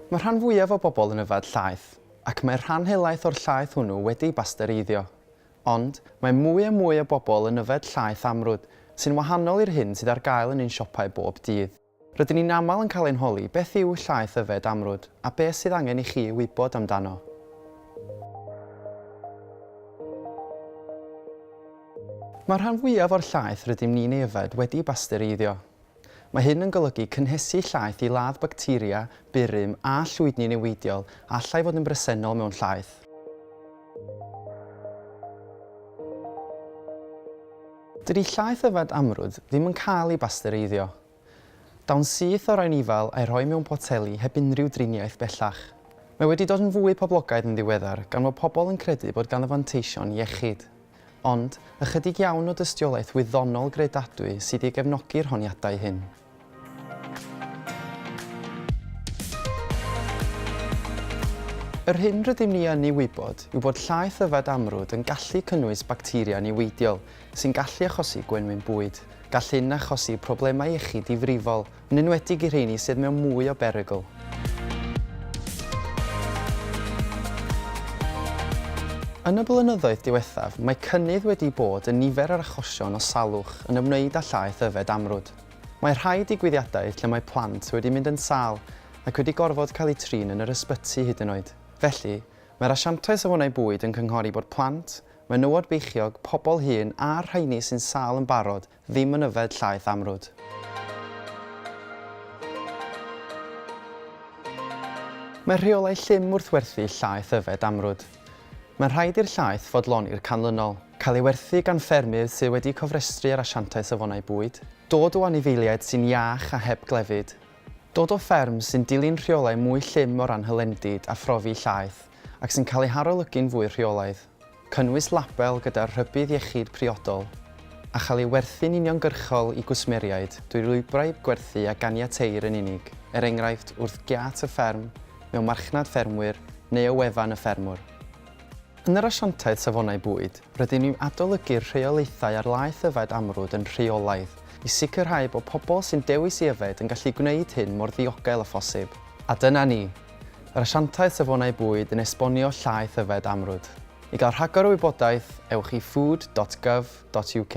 Mae'r rhan fwyaf o bobl yn yfed llaeth, ac mae'r rhan helaeth o'r llaeth hwnnw wedi'i bastereiddio. Ond, mae mwy a mwy o bobl yn yfed llaeth amrwd, sy'n wahanol i'r hyn sydd ar gael yn ein siopau bob dydd. Rydyn ni'n aml yn cael ein holi beth yw llaeth yfed amrwd a beth sydd angen i chi wybod amdano. Mae'r rhan fwyaf o'r llaeth rydym ni'n ei yfed wedi'i bastereiddio. Mae hyn yn golygu cynhesu llaeth i ladd bacteria, burum a llwydni niweidiol a allai fod yn bresennol mewn llaeth. Dydi llaeth yfed amrwd ddim yn cael ei bastereiddio. Daw'n syth o rai'n ifal a'i rhoi mewn poteli heb unrhyw driniaeth bellach. Mae wedi dod yn fwy poblogaidd yn ddiweddar gan fod pobl yn credu bod ganddo fanteision iechyd. Ond, ychydig iawn o dystiolaeth wyddonol gredadwy sydd i gefnogi'r honiadau hyn. Yr hyn rydym ni yn ei wybod yw bod llaeth yfed amrwd yn gallu cynnwys bacteria niweidiol sy'n gallu achosi gwenwyn bwyd. Gall hyn achosi problemau iechyd difrifol, Yn enwedig i'r rheini sydd mewn mwy o berygl. Yn y blynyddoedd diwethaf, mae cynnydd wedi bod yn nifer yr achosion o salwch yn ymwneud â llaeth yfed amrwd. Mae rhai digwyddiadau lle mae plant wedi mynd yn sâl ac wedi gorfod cael eu trin yn yr ysbyty hyd yn oed. Felly, mae'r asiantau safonau bwyd yn cynghori bod plant, menywod beichiog, pobl hŷn a'r rheini sy'n sâl yn barod Ddim yn yfed llaeth amrwd. Mae rheolau llym wrth werthu llaeth yfed amrwd. Mae'n rhaid i'r llaeth fodloni'r canlynol. Cael ei werthu gan ffermydd sydd wedi cofrestru ar Asiantaeth Safonau Bwyd. Dod o anifeiliaid sy'n iach a heb glefyd. Dod o fferm sy'n dilyn rheolau mwy llym o ran hylendid a phrofi llaeth ac sy'n cael ei harolygu'n fwy rheolaidd. cynnwys label gyda'r rhybudd iechyd priodol, a chael ei werthu'n uniongyrchol i gwsmeriaid drwy lwybrau gwerthu a ganiateir yn unig, er enghraifft wrth giât y fferm, mewn marchnad ffermwyr neu o wefan y ffermwr. Yn yr Asiantaeth Safonau Bwyd, rydyn ni'n adolygu'r rheolaethau ar laeth yfed amrwd yn rheolaidd, i sicrhau bod pobl sy'n dewis i yfed yn gallu gwneud hyn mor ddiogel â phosib. A dyna ni, Yr Asiantaeth Safonau Bwyd yn esbonio llaeth yfed amrwd. I gael rhagor o wybodaeth, ewch i food dot gov dot uk.